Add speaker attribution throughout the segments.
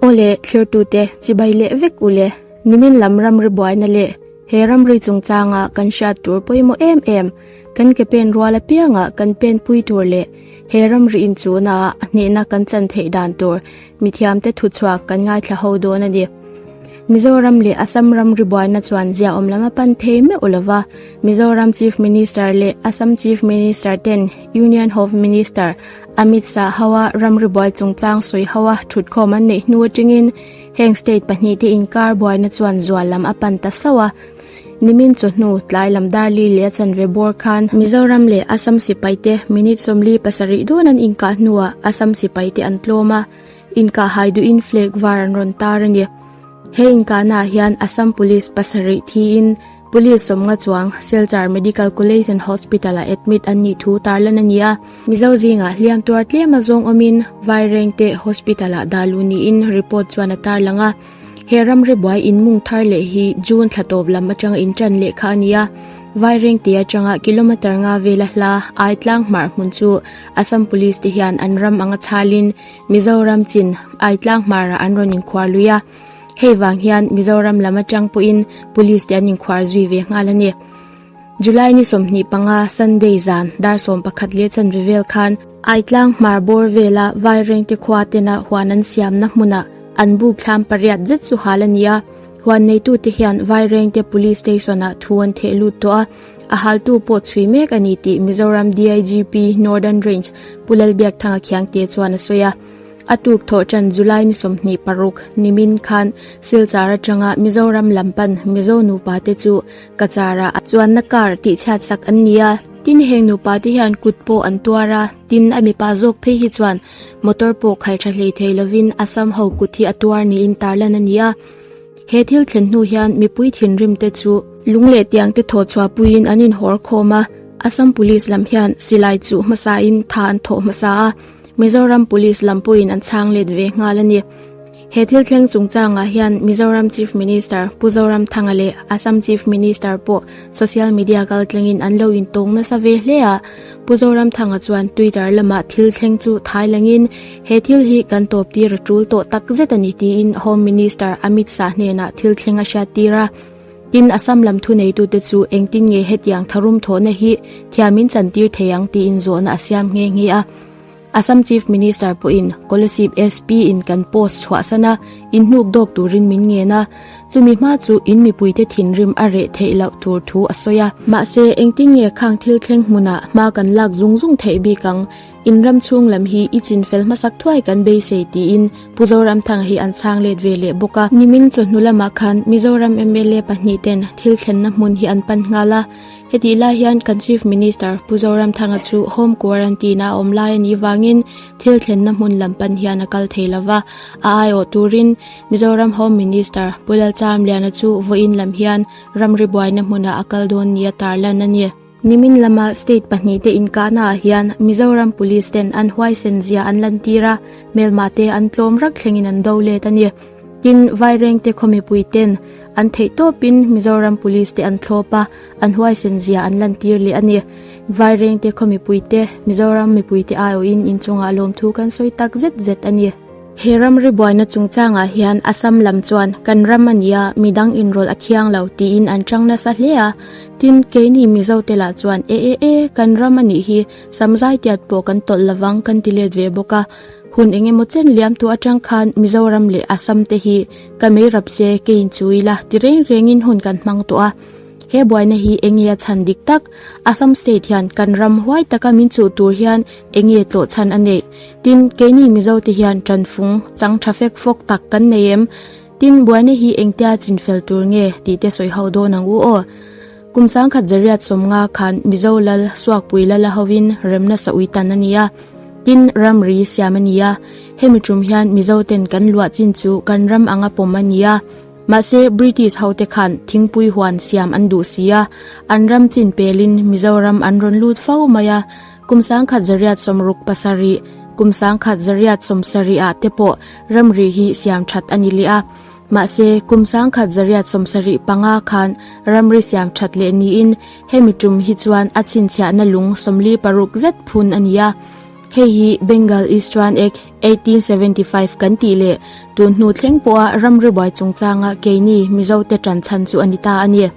Speaker 1: Aw le, thlertute, chibai leh vek u le, nimin lam ramri buaina leh he ramri chungchanga kan hriat tur pawimawh em em, kan ke pen rual apianga kan pen pui tur leh he ramri inchuna ah a hnehna kan chan theih dan tur mithiamte thuchhuak kan ngaithla ho dawn a ni. Mizoram leh Assam ramri buaina chuan ziaawm lam a pan thei meuh lo va, Mizoram Chief Minister leh Assam Chief Minister ten Union Home Minister A mit sa ho a, ram ri buai chung chang sawi ho a, thut khawm an neih hnu atingin heng state pahnih te inkar buaina chuan zual lam a pan ta sauh a. Nimin chaw hnu tlai lam dar li leh a chanve bawr khan, Mizoram leh Assam sipai te minute sawmli pasarih dawn an inkah hnuah Assam sipai te an tlawm a, inkah hai duhin flag var an rawn tar a ni. He inkahna ah hian Assam Police pasarih thiin Police sawmnga chuang Silchar Medical College and Hospital-ah admit an nih thu tar lan a ni a, Mizo zingah hliam tuar tlema zawng awmin Vairengte Hospital-ah dah luh niin report chuan a tarlang a. He ramribuai inmung thar leh hi June thla tawp lam atanga intan leh kha a ni a, Vairengte atanga kilometre nga vela hla ai tlang hmar hmun chu Assam Police-te hian an ram anga chhalin Mizoram chin ai tlang hmarah an rawn inkhuar lui a. Hei vang hian Mizoram lam atang pawhin Police te an inkhuar zui ve nghal a ni. July ni sawmhnih panga, Sunday zan, dar sawm pakhat leh chanve vel khan, Aitlang hmar bawr vela Vairengte khua tena huan an siamna hmuna an buk thlam pariat zet chu hal a ni a. Huan neitute hian Vairengte Police Station-ah thu an theh lut tawh a, a haltu pawh chhui mek a ni tih Mizoram DIGP Northern Range Pu Lal Biakthanga Khiangte chuan a sawi a. A tuk thawh tan July ni sawmhnih paruk nimin khan Silchar atanga Mizoram lam pan Mizo nupa te chu Kachar ah chuanna kar tih chhiat sak an ni a. Tin, heng nupa te hian kut pawh an tuar a, tin a mipa zawk phei hi chuan motor pawh khalh tha hlei thei lovin Assam ho kut hi a tuar niin tarlan a ni a. He thil thlen hnu hian mipui thinrim te chu. Lung leh tiang te thaw chhuah puiin an inhawr khawm a, Assam Police lam hian silai chuh hmasa in tha an thawh hmasa a. Mizoram Police lam pawhin an chhang let ve nghal a ni. He thil thleng chungchangah hian Mizoram Chief Minister Pu Zoramthanga leh Assam Chief Minister pawh social media kal tlengin an lo intawng nasa ve hle a. Pu Zoramthanga chuan Twitter lamah thil thleng chu thai langin he thil hi kan tawptir a tul tawh takzet a ni tiin Home Minister Amit Shah hnenah thil thleng a hriattir a. Tin, Assam lam thuneitute chu engtin nge hetiang tharum thawhna hi thiamin chantir thei ang tiin zawhna a siam nghe nghe a. Assam Chief Minister pawhin Kolasib SP in kan post chhuahsan a, in hnuk dawk turin min ngen a, chumi hma chu in mipuite thinrim a reh theih loh tur thu a sawi a. Mahse, engtin nge khang thil thleng hmuna hma kan lak zung zung theih bik ang? In ram chhung lam hi i chin fel hmasak thuai kan beisei tiin Pu Zoramthanga hi an chhang let ve leh bawk a. Nimin chawhnu lamah khan Mizoram mla pahnih ten thil thlenna hmun hi an pan nghal a, hetih lai hian kan Chief Minister Pu Zoramthanga chu Home Quarantine a awm lai a nih vangin thil thlenna hmun lam pan hian a kal thei lo va, a aiawh turin Mizoram Home Minister Pu Lalcham Liana chu vawiin lam hian ramri buaina hmuna a kal dawn nia tarlan a ni. Nimin lama state pahnihte inkahnaah hian Mizoram Police ten an huaisen zia an lantir a, hmelmah te an tlawm rak thlengin an do let a ni. Tin, Vairengte khaw mipui ten an theih tawpin Mizoram Police te an thlawp a, an huaisen zia an lantir leh a ni. Vairengte khaw mipuite Mizoram mipuite aiawhin inchungah lawmthu kan sawi tak zet zet a ni. He ram ribuaina chungchangah hian Assam lam chuan kan ram a ni a, mi dang inrawl a thiang lo tiin an chang nasa hle a. Tin, keini Mizo te lah chuan e e e, kan ram a nih hi, sam zai tiat pawh kan tawlh lovang kan ti let ve bawk a. Hun eng emaw chen liam tu atang khan Mizoram leh Assam te hi ka meirap se keiin chu ila ti reng rengin hun kan hmang tawh a. He buaina hi eng nge a chhan dik tak? Assam State hian kan ram huai taka min chuh tur hian eng nge tlawh chhan a neih? Tin, keini Mizo te hian tanfung, chang tha fek fawk tak kan nei em? Tin, buaina hi engtia chin fel tur nge? tih te sawi hauh dawn ang u aw. Kum sangkhat Zariat sawmnga khan Mizo lal, Suakpui lal a hovin rem nasa ui tan a ni a. Tin, ramri siam a ni a. Hemi tum hian Mizo ten kan luah chin chu kan ram anga pawm a ni a. Mahse, British hote khan thingpui huan siam an duh si a, an ram chin pelin Mizoram an rawn lut fo mai a. Kum sangkhat Zariat Sawmruk pasarih, kum sangkhat Zariat Sawmsarih ah te pawh ramri hi siam that a ni leh a. Mahse, kum sangkhat Zariat Sawmsarih panga khan ramri siam that leh niin hemi tum hi chuan a chhinchhiahna lung sawmli paruk zet phun a ni a. Hei hi Bengal East Run Act eighteen seventy five kan tih leh tun hnu thleng pawha ram ribuai chungchanga keini Mizo te tan chhan chu a ni ta a ni.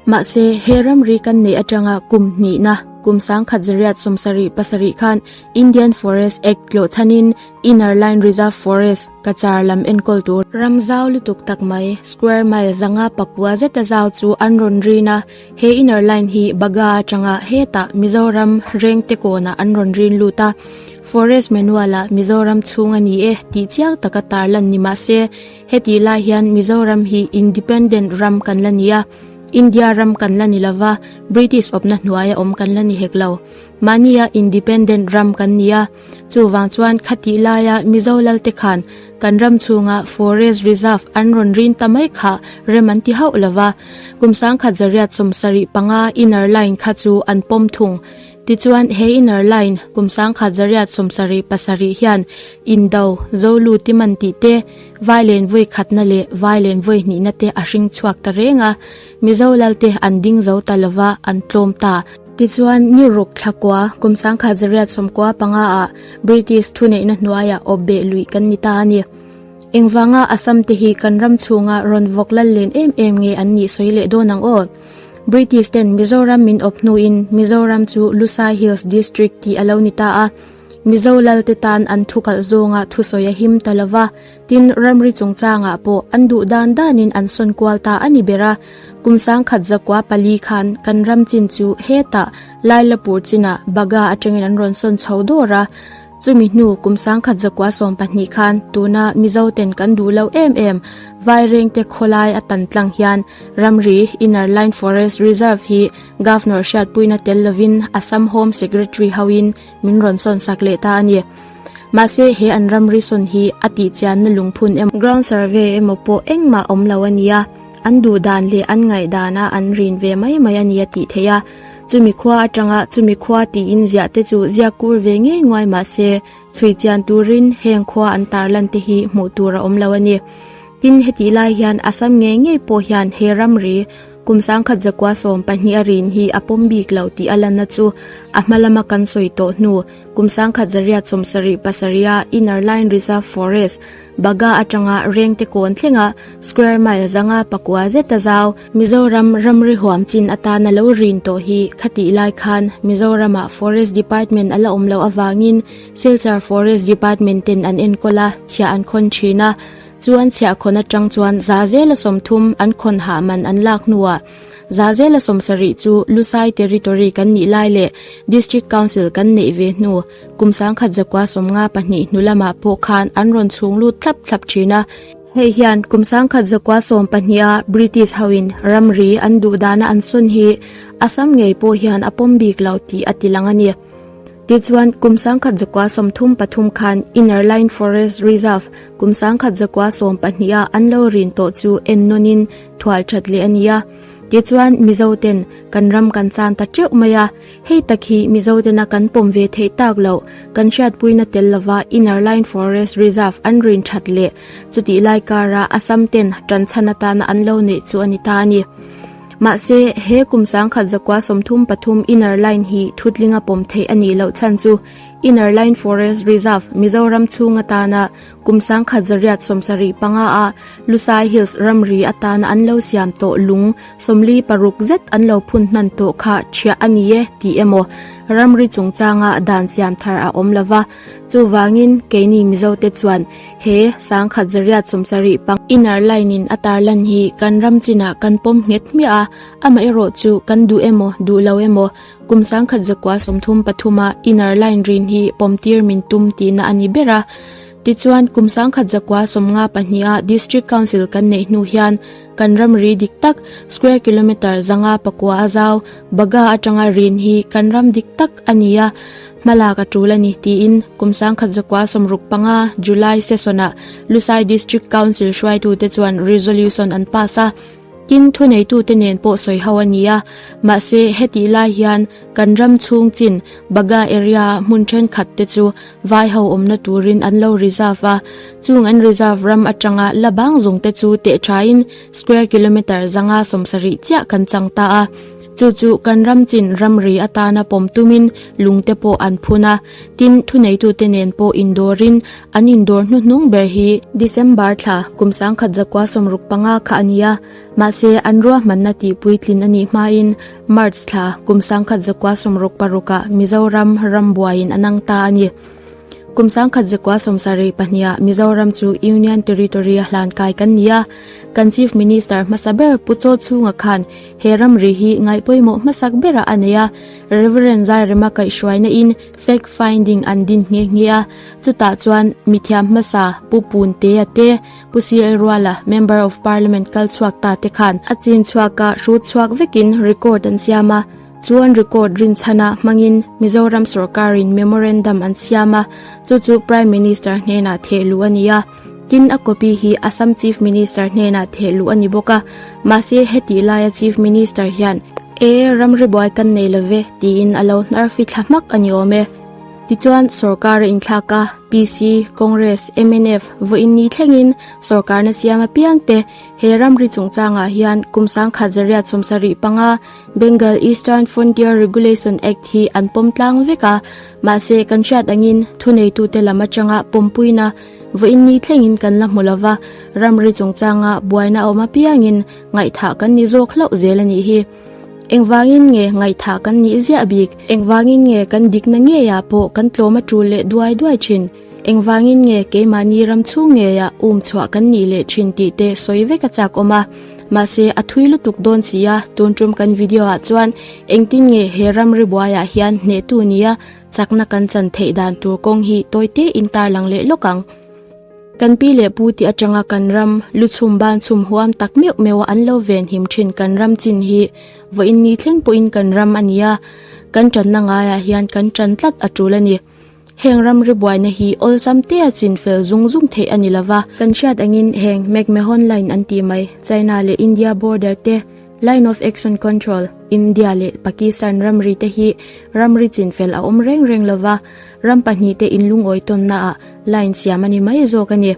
Speaker 1: Mahse, he ramri kan neih atanga kum hnihna, kum sangkhat zariat sawmsarih pasarih khan Indian Forest Act tlawh chhanin Inner Line Reserve Forest, Kachar lam enkawl tur, ram zau lutuk tak mai, square mile zanga pakua zeta zau chu an rawn rin a, He inner line hi Baga atanga hetah Mizoram rengte kawnah an rawn rin lut a, Forest Manual-a Mizoram chhung a ni e tih chiang tak a tar lan ni mah se, hetih lai hian Mizoram hi independent ram kan la ni a, India ram kan la ni lova, British awpna hnuaia awm kan la ni hek lo. Mahnia independent ram kan ni a. Chuvang chuan khatih laia Mizo lalte khan kan ram chhunga Forest Reserve an rawn rin ta mai kha rem an ti hauh lo va, kum sangkhat Zariat sawm sarih panga inner line kha chu an pawm thung. Tichuan he inner line kum sangkhat Zariat sawm sarih pasarih hian Indo, Zolu timan tih te, Vailenvawikhatna leh Vailenvawihnihna te a hring chhuak ta reng a. Mizo lalte an ding zo ta lova, an tlawm ta. Tichuan New Ruk thlakua, kum sangkhat zariat sawmkua panga ah British thuneihna hnuai ah awp beh luih kan ni ta a ni. Engvanga Assam te hi kan ram chhung ah rawn vawk lal len em em nge an nih sawi leh dawn ang aw. British ten Mizoram min awp hnu in Mizoram chu Lusai Hills District tih a lo ni ta a. Mizo lalte tan an thukalh zawng ah thusawi a him ta lova, Tin, ramri chungchangah pawh an duh dan danin an sawn kual ta a ni ber a. Kum sangkhat zakua pali khan kan ram chin chu heta Lai Lapur chinah Baga atangin an rawn sawn chho dawr a. Chumi hnu kum sangkhat zakua sawm pahnih khan tuna Mizoten kan duh lo em em Vairengte khawlai a tan tlang hian ramri Inner Line Forest Reserve hi Governor hriatpuina tel lovin Assam Home Secretary hoin Min rawn sawn sak leh ta a ni. Mahse he an ramri sawn hi a tihchianna lungphun emaw. Ground survey emaw pawh engmah awm lo a nia, an duh dan leh an ngaih dana an rin ve mai mai a ni a tih theih a. Chumi khua atanga chumi khua tiin ziah te chu ziak kur ve ngei nguai mahse chhui chian turin heng khua an tar lan te hi hmuh tur a awm lo a ni. Tin hetih lai hian Assam ngei ngei pawh hian he ramri. Kum sangkhat zakua sawm pahnih a rin hi a pawm bik lo tih a lana chu a hma lama kan sawi tawh hnu, kum sangkhat zariat sawm sarih pasarih a Inner Line Reserve Forest, Baga atanga rengte kawn thlenga square mile zanga pakua zeta zau, Mizoram ramri huam chin atan a lo rin tawh hi khatih lai khan Mizorama Forest Department a la awm loh avangin Silchar Forest Department ten an enkawl a, chhia an khawn thin a. Chuan chhiah khawn atang chuan Zazela sawmthum an khawn hah man an lak hnuah Zazela sawm sarih chu Lusai Territory kan nih lai leh District Council kan neih ve hnu kum sangkhat zakua sawmnga pahnih hnu lamah pawh khan an rawn chhung lut thlap thlap thin a. Hei hian kum sangkhat zakua sawm pahnih a British hoin ramri an duhdana an sawn hi a sam ngei pawh hian a pawm bik lo tih a ti lang a ni. Tichuan, kum sangkhat zakua sawm thum pathum khan Inner Line Forest Reserve, kum sangkhat zakua sawm pahnih ah an lo rin tawh chu en nawn in thual that leh a ni a. Tichuan, Mizo ten kan ram kan chan ta teuh mai a, hei tak hi Mizo ten a kan pawm ve theih tak loh, kan hriatpuina tel lova Inner Line Forest Reserve an rin that leh chutih lai kar ah Assam ten tanchhan atana an lo neih chu a ni ta a ni. Mahse, he kum sangkhat zakua sawmthum pathum Inner Line hi thutlinga pawm theih a nih loh chhan chu Inner Line Forest Reserve, Mizoram chhung atana kum sangkhat zariat sawmsarih panga a Lusai Hills ramri atana an lo siam tawh lung sawmli paruk zet an lo phun hnan tawh kha chhiah a ni e tih emaw ramri chungchanga dan siam thar a awm lo va. Chuvangin keini Mizote chuan he Sangkhat Zariat sum sarih pang. Inner line in a tarlan hi kan ram chinah kan pawm nghet hmiah a, amaherawh chu kan duh emaw duh lo emaw kum sangkhat zakua sawmthum pathuma inner line rin hi pawm tir min tum tihna a ni ber a. Tichuan kum sangkhat zakua sawmnga pahniha District Council kan neih hnu hian Kan ram ri dik tak, square kilometre zanga pakua a zau, baga atanga rin hi kan ram dik tak a ni a, hmalak a tul a ni, tiin Kumsangkhat Zakua Sawmruk panga July session-ah Lusai District Council hruaitute chuan resolution an pass a. Tin, thuneitute nen pawh sawi ho a ni a, mahse, hetih lai hian kan ram chhung chin, baga area-ah hmun thenkhatte chu Vai ho awmna turin an lo reserve a, chung an reserve ram atanga la bang zawng te chu teh thain square kilometre zanga sawmsarih chiah kan chang ta a. Chu chu kan ram chin ramri atana pawm tumin lung te pawh an phun a, tin thuneitute nen pawh indawrin an indawr hnu hnung ber hi, December thla kum sangkhat zakua sawmruk panga kha a ni a, mahse an ruahmanna tihpuitlin a nih hmain, March thla, kum sangkhat zakua sawmruk parukah Mizoram ram buaiin a nang ta a ni. Kum sangkhat zakua sawmsarei pahniha Mizoram chu Union Territory a hlan kai kan ni a, kan Chief Minister hmasa ber Pu Chaw Chunga khan he ramri hi ngaih pawimawh hmasak berah a nei a, Rev. Zairema kaihhruainain fact finding an din nghe nghe a, chutah chuan mithiam hmasa Pu Pun Tea te, Pu Sial Ruala Member of Parliament kal chhuak ta te khan a chin chhuak a hrut chhuak vek in record an siam a, chuan record rin chhan a hmang in Mizoram sawrkar in memorandum an siam a, chu chu Prime Minister hnenah theh luh a ni a, tin a copy hi Assam Chief Minister hnenah theh luh a ni bawk a, mahse hetih laia Chief Minister hian, E, ramribuai kan nei lo ve, tiin a lo hnarfi thla hmak a ni awm e. Tichuan, sorkar a inthlak a, PC, Congress, mnf, vawiin ni thlengin sorkarna siam apiang te he ramri chungchangah hian kum sangkhat zariat sawmsa rih panga Bengal Eastern Frontier Regulation Act hi an pawm tlang vek a. Mahse, kan hriat angin thuneitute lam atanga pawmpuina vawiin ni thlengin kan la hmu lova ramri chungchanga buaina a awm apiangin ngaihthah kan ni zawk hlauh zel a nih hi. Engvangin nge ngaihthah kan nih ziah bik? Engvangin nge kan dikna ngeiah pawh kan tlawm a tul leh duai duai thin? Engvangin nge keimahni ram chhung ngeiah um chhuah kan nih leh thin tih te sawi vek a chak awm a. Mahse, a thui lutuk dawn si a, tun ṭum kan video ah chuan engtin nge he ram ri buaiah hian hnehtu nia chakna kan chan theih dan tur kawng hi tawite in tarlang leh lawk ang. Kan pi leh pu tih atanga kan ram lu chhum ban chhum huam tak meuh meuha an lo ven him thin. Kan ram chin hi vawiin ni thleng pawhin kan ram a ni a, kan tanna ngaiah hian kan tan tlat a tul a ni. Heng ram ri buaina hi awlsam tea chin fel zung zung theih a ni lo va. Kan hriat angin heng McMahon Line an tih mai, China leh India border te, Line of Action Control, India leh Pakistan ramri te hi ramri chin fel a awm reng reng lo va. Ram pahnih te in lungawi tawnna ah line siam a ni mai zawk a ni.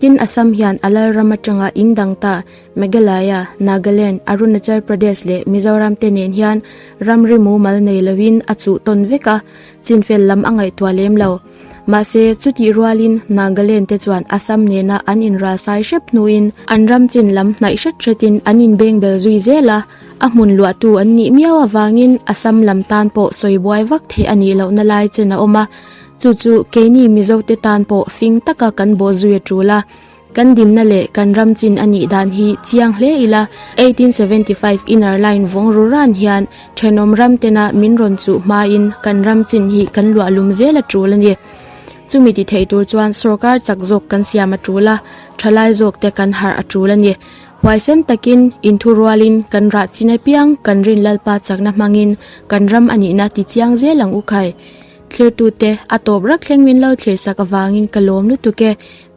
Speaker 1: Tin, Assam hian a Lalram atanga in dang ta Meghalaya, Nagaland, Arunachal Pradesh leh Mizoram te nen hian ram rimu mal nei lo in a chuh tawn vek a, chin fel lam a ngaihtuah lem lo. Mahse, chutih rual in Nagaland te chuan Assam nena an inralsai hrep hnu in an ram chin lam hnaih hret hret in an inbengbel zui zel a. A hmun luahtu an nih miau avangin Assam lam tan pawh sawi buai vak theih a nih lohna lai chen a awm a. Chu chu keini Mizote tan pawh fing taka kan bawh zui a tul a. Kan dinna leh kan ram chin a nih dan hi chiang hle ila. Eighteen seventy five Inner Line vawng rura'n hian thenawm ram tena min rawn chuh hmain kan ram chin hi kan luah lum zel a tul a ni. Chumi ti theih tur chuan sorkar chak zawk kan siam a tul a, thalai zawk te kan harh a tul a ni. Huaisen takin, inthu rualin, kan rah chin apiang, kan rin Lalpa chakna hmangin kan ram a nihna ti chiang zel ang u khai. Thlirtute, a tawp rak thleng min lo thlir sak avangin ka lawm lutuk e.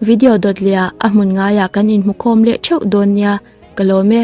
Speaker 1: Video dawt leh ah a hmun ngaiah kan inhmukhawm leh theuh dawn nia ka lawm e.